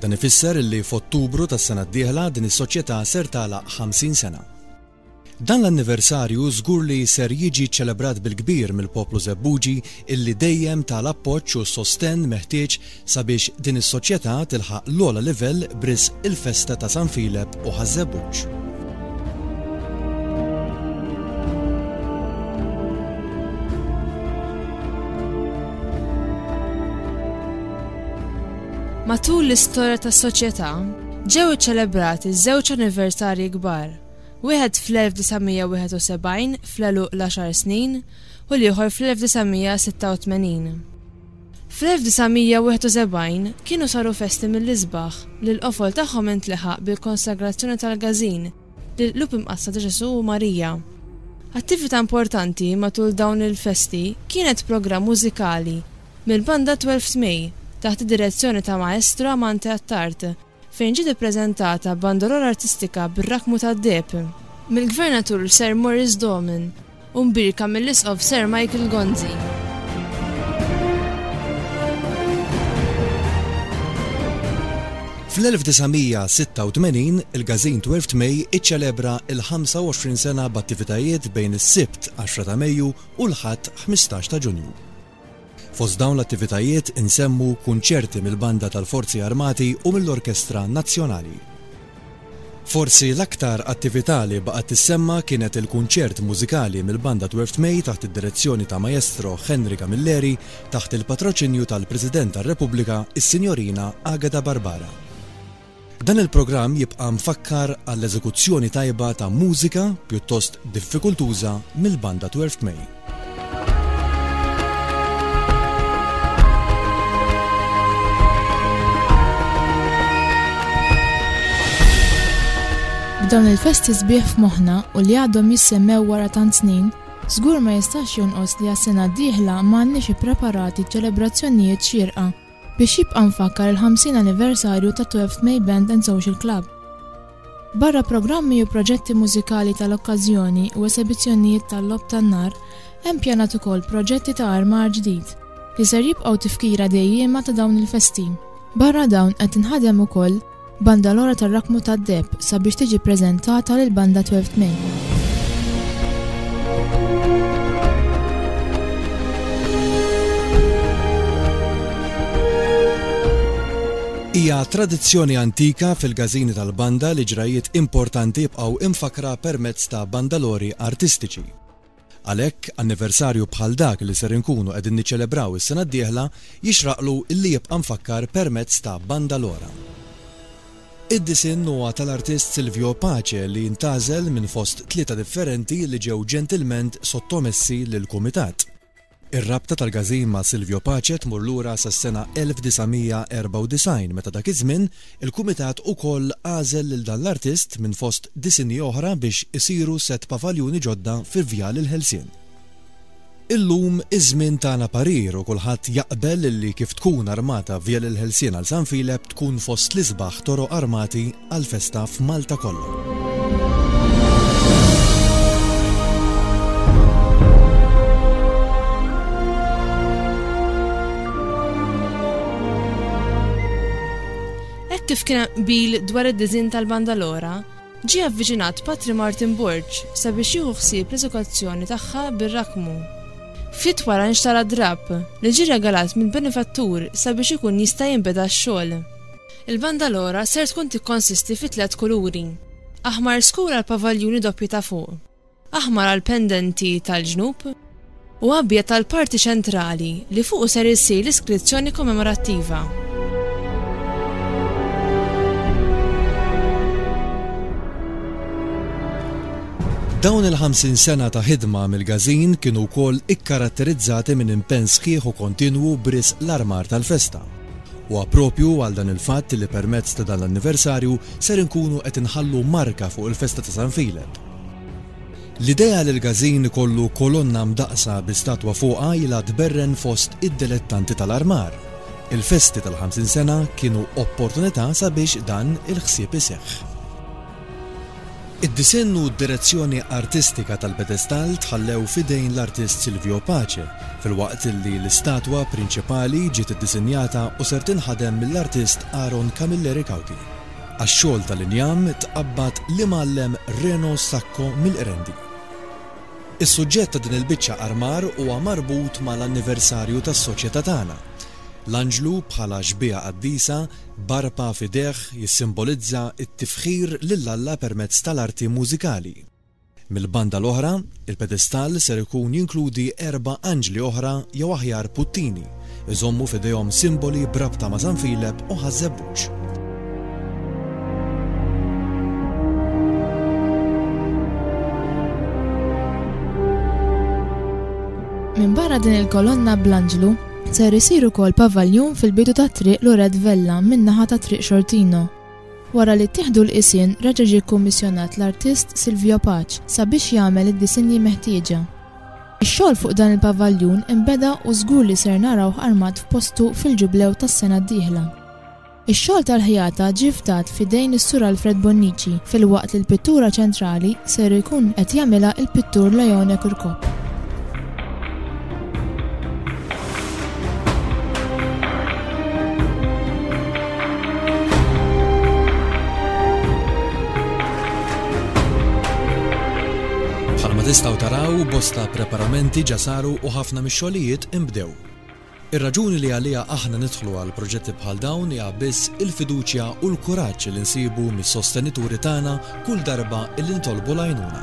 Dan ifisser illi f'Ottubru tas-sena d-dieħla din is-soċjetà ser tagħlaq 50 sena. Dan l-anniversarju żgur li ser jiġi ċċelebrat bil-kbir mill-poplu Żebbuġi illi dejjem ta l-appoġġ u s-sostenn meħtieġ sabiex din is-soċjetà tilħaq l-ogħla livell b'risq il-festa ta' San Filep u Ħaż-Żebbuġ. Matul l-istorja tas-Soċjetà, ġew iċċelebrati żewġ anniversarji kbar, wieħed fl-1971 fl-għeluq l-għaxar snin u l-ieħor fl-1986. Fl-1971 kienu saru festi mill-isbaħ li l-qofol tagħhom intleħaq bil-konsagrazzjoni tal-Gazin lill-Qlub Imqaddsa ta' Ġesù u Marija. Attività importanti matul dawn il-festi kienet programm mużikali Mill-Banda Twelfth May, taħt id-direzzjoni ta' Maestro Amante Attard, fejn ġiet ippreżentata Bandolora Artistika bir-Rakkmu tad-Deheb, mill-Gvernatur Sir Maurice Doman, u mbierka mill-Isqof Sir Michael Gonzi. Fl-1986, il-gażin Twelfth May iċċelebra l-25 sena b'attivitajiet bejn is-Sibt 10 ta' Mejju u l-Ħadd 15 ta' Ġunju. Fost dawn l-attivitajiet insemmu kunċerti mill-Banda tal-Forzi Armati u mill-Orkestra Nazzjonali. Forsi l-aktar attività li baqgħet tissemma kienet il-kunċert mużikali mill-Banda Dwarf Tmej taħt id-direzzjoni ta' Maestro Henry Camilleri taħt il-patroċinju tal-President tar-Repubblika, is-Sinjorina Agata Barbara. Dan il-programm jibqa' mfakkar għall-eżekuzzjoni tajba ta' mużika pjuttost diffikultuża mill-Banda Twelfth May. Dawn il-festi sbieħ f'moħħna u li għadhom jissemmew wara tant snin, żgur ma jistax jonqos li għas-sena d-dieħla m'għandniex ippreparati ċelebrazzjonijiet xierqa Biex jibqa' mfakkar il-50 anniversarju ta' Twelfth May Band and Social Club. Barra programmi u proġetti mużikali tal-okkażjoni u esebizzjonnijiet tal-logħob tan-nar, hemm pjanat ukoll proġetti ta' armar ġdid, li ser jibqgħu tifkira dejjiema ta' dawn il-festi. Barra dawn qed tinħadem ukoll Banda l-ora tar-rakmu tad-deheb sabiex tiġi ppreżentata lil banda 12 May. Hija tradizzjoni antika fil-gazini tal-banda li ġrajiet importanti jibqgħu imfakra permezz ta' bandalori artistiċi. Għalhekk, anniversarju bħal dak li ser inkunu qegħdin niċċelebraw is-sena d-dieħla jixraqlu li jibqa' mfakkar permezz ta' Banda Lora. Id-disinn huwa tal-artist Silvio Pace li ntgħażel minn fost tlieta differenti li ġew ġentilment sottomessi lill-Kumitat. Ir-rabta tal-Gazin ma' Silvio Pace tmur lura sas-sena 1994 meta dak iż-żmien il-Kumitat ukoll għażel lil dan l-artist minn fost disinji oħra biex isiru sett pavaljuni ġodda fi Vjal il-Ħelsien. Illum iż-żmien tana parir u kulħadd jaqbel li kif tkun armata Vjal il-Ħelsien għal San Filep tkun fost l-isbaħ toroq armati għall-festa f'Malta kollha. Hekk kif kien hemm qbil dwar id-disinn tal-Banda Lora, ġie avviċinat Patri Martin Borg sabiex jieħu ħsieb l-eżekuzzjoni tagħha bir-rakkmu. Ftit wara nxtara drapp, li ġie regalat mill-benifattur sabiex ikun jista' jinbeda x-xogħol. Il-bandalora ser tkun tikkonsisti fi tliet kuluri, aħmar skur għall-pavaljuni doppji ta' fuq, aħmar għall-pendenti tal-ġnub, u abjad għall-parti ċentrali li fuqu ser issir l-iskrizzjoni kommemorattiva. Dawn il-50 sena ta' ħidma mill-Gazin kienu wkoll ikkaratterizzati minn impenn sħiħ u kontinwu bris l-armar tal-festa. Huwa proprju għal dan il-fatt li permezz ta' dan l-anniversarju ser inkunu qed inħallu marka fuq il-festa ta' San Filep. L-idea li l-Gażin ikollu kolonna mdaqqsa bi statwa fuqha ilha tberren fost id-delettanti tal-armar. Il-festi tal-50 sena kienu opportunità sabiex dan il-ħsieb iseħħ. Id-disinn u d-direzzjoni artistika tal-pedestall tħallew f'idejn l-artist Silvio Pace, filwaqt li l-istatwa prinċipali ġiet iddisinjata u ser tinħadem mill-artist Aaron Camilleri Cauchi. Għax-xogħol tal-injam tqabbad l-Imgħallem Reno Sacco mill-Qrendi. Is-suġġett ta' din il-biċċa armar huwa marbut mal-anniversarju tas-Soċjetà tagħna. L-Anġlu bħala xbieha qaddisa, b'arpa f'idejh jissimbolizza t-tifħir lil Alla permezz tal-arti mużikali. Mill-banda l-oħra, il-pedestall ser ikun jinkludi erba' anġli oħra jew aħjar puttini, iżommu f'idejhom simboli b'rabta ma' San Filep u Ħaż-Żebbuġ. Minbarra din il-kolonna bl-anġlu, Ser isir ukoll pavaljun fil-bidu tat-Triq Loret Vella min-naħa ta' Triq Xortino. Wara li ttieħdu l-qisien reġa' ġie kkummissjonat l-artist Silvio Paċ sabiex jagħmel id-disinji meħtieġa. Ix-xogħol fuq dan il-pavaljun inbeda u żgur li ser narawh armat f'postu fil-Ġublew tas-sena d-dieħla. Ix-xogħol tal-ħjata ġie fdat f'idejn is-Sur Alfred Bonnici filwaqt li l-pittura ċentrali ser ikun qed jagħmilha l-pittur Leone Kurkop. Bħalma tistgħu taraw, bosta preparamenti ġa saru u ħafna mix-xogħlijiet inbdew. Ir-raġuni li għaliha aħna nidħlu għal proġetti bħal dawn hija biss il-fiduċja u l-kuraġġ li nsibu mis-sostenituri tagħna kull darba li nitolbu l-għajnuna.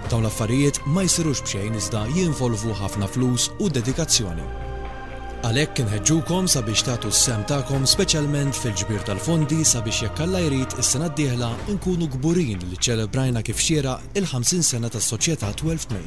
Dawn l-affarijiet ma jsirux b'xejn iżda jinvolvu ħafna flus u dedikazzjoni. Għalhekk inħeġġukom sabiex tagħtu s-sehem tagħkom speċjalment fil-ġbir tal-fondi sabiex jekk Alla jrid is-sena d-dieħla nkunu kburin li ċċelebrajna kif xieraq il-50 sena tas-Soċjetà Twelfth May.